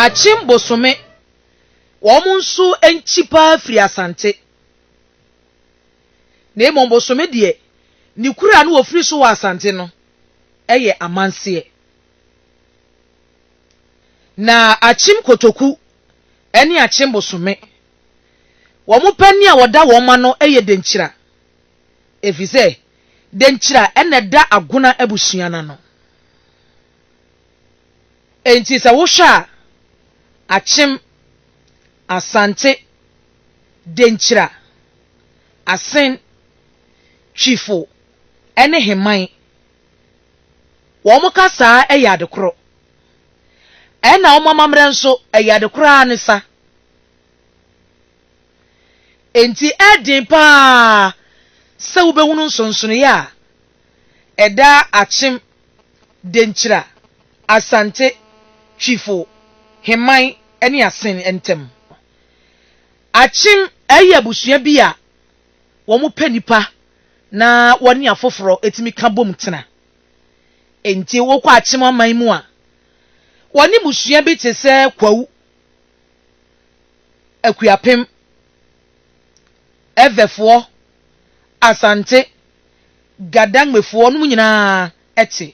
Akyem bosome wɔn nso nkyi paa firi Asante. Na mmom bosome deɛ ne kura no wɔfiri so wɔ Asante no yɛ amanseɛ. Na Akyem kotoku ne Akyem bosome wɔn panin a wɔda wɔn ma no yɛ Denkyira ɛfiri sɛ Denkyira na ɛda Agona abusua no ano. Enti sɛ wohwɛ a, Akyem, Asante, Denkyira, Asen, Twifo ne Heman, wɔn kasa ara yɛ ade koro. Ɛna wɔn amammerɛ nso, ɛyɛ ade koro ara ne sa. Enti ɛyɛ den pa ara sɛ wobɛhunu nsonsonoeɛ a ɛdaa Akyem, Denkyira, Asante, Twifo, Heman ne Asen ntam. Akyem yɛ abusua bi a wɔpɛ nnipa na wɔne afoforo tumi ka bom tena. Enti wokɔ Akyem aman mu a, wɔne mmusua bi te sɛ Kwawu, Akuapem, Ɛvɛfoɔ, Asante, Gadangmefoɔ nom nyinaa te.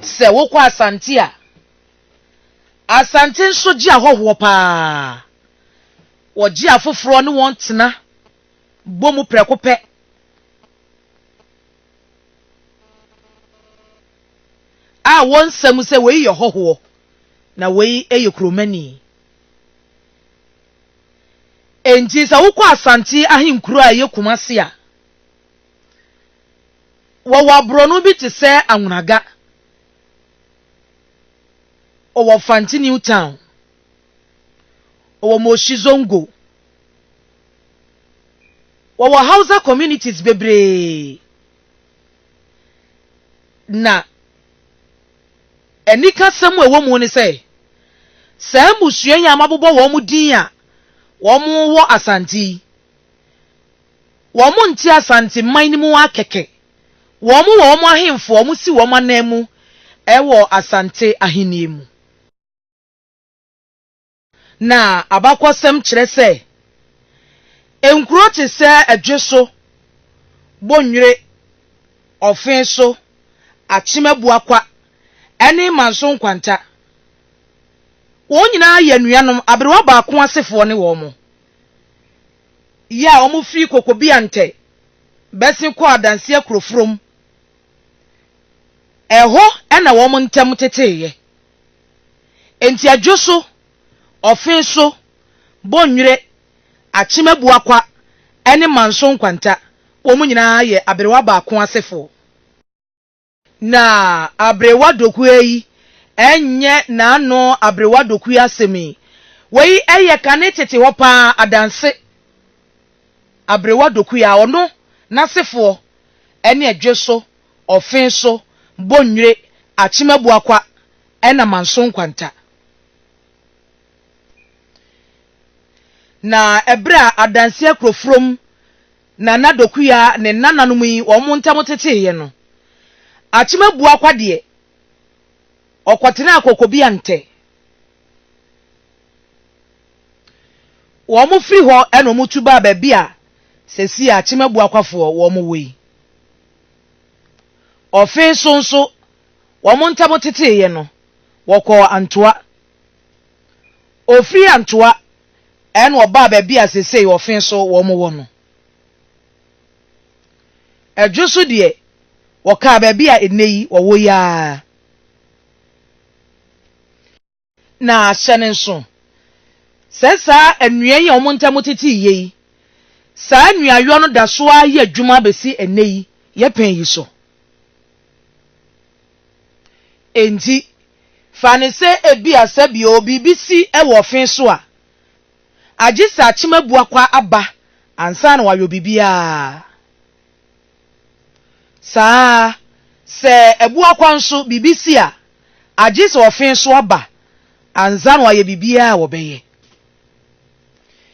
Sɛ wokɔ Asante a, Asante nso gye ahɔhoɔ paa. Wɔgye afoforɔ ne wɔn tena. bɔ mu prɛko pɛ. A wɔnsa mu sɛ wei yɛ hɔhoɔ na wei yɛ kuromani. Enti sɛ wokɔ Asante ahenkuro a ɛyɛ Kumase a, wɔwɔ aborɔno bi te sɛ Anwonaga, wɔwɔ Fante New Town. Ɔwɔ Moshi Zongo. Wɔwɔ Hausa communities bebree na anikasɛm a ɛwɔ mu ne sɛ saa mmusua yi a mabobɔ wɔn din a wɔwɔ Asante yi, wɔnte Asante man no mu ara kɛkɛ. Wɔwɔ wɔn ahemfo a wɔsi wɔn ananmu wɔ Asante ahenni mu. Na abakɔsɛm kyerɛ sɛ nkuro te sɛ Adweso, Bonnwire, Ɔfeso, Akyem Abuakwa, ne Manso Nkwanta, wɔn nyinaa yɛ anuanom aberewa baako asefoɔ ne wɔn yɛ a wɔfiri Kokobiantɛ bɛsen kɔɔ Adansi Akuroforom. Ɛhɔ na wɔn ntam teteeɛ. Enti adwo so, ɔfe so, bonnwire, akyem abuakwa, ne manso nkwanta, wɔn nyinaa yɛ aberewa baako asefoɔ. Na aberewa dokuo yi nyɛ n'ano aberewa dokuo asɛm yi. Wei yɛ kane tete hɔ pa ara adanse. Aberewa dokuo a ɔno, n'asefoɔ, ne adwo so, Ɔfenso, Bonnwire, Akyem Abuakwa ɛna Manso Nkwanta. Na ɛberɛ a Adanseɛ Kurofurom Nana Dokuya ne nnananom yi wɔn ntam teteeɛ no, Akyem Abuakwa deɛ ɔkɔtenaa Kokobiantɛ. Wɔn firi hɔ na wɔtu baa baabi a seesei Akyem Abuakwafoɔ wɔn wɔ yi. Ɔfe so nso, wɔn ntam teteeɛ no, wɔkɔɔ Antoa. Ɔfiri Antoa na ɔbaa baabi a seesei Ɔfe so wɔn wɔ no. Adwo so deɛ, wɔkaa baabi a nnɛ yi wɔwɔ yi ara. Na hyɛ no nso sɛ saa nnua yi a wɔn ntam tetee yɛ yi, saa nnuayɔ no da so ara yɛ adwuma besi ɛnnɛ yi yɛpɛn yi so. Enti, fa no sɛ ebia sɛ bio biribi si wɔ ɔfe so a, agye sɛ akyemabua kwa aba ansa na wɔayɔ biribiara. Saa ara, sɛ abua kwan so biribi si a, agye sɛ ɔfe so aba ansa na wɔayɛ biribiara a wɔbɛyɛ.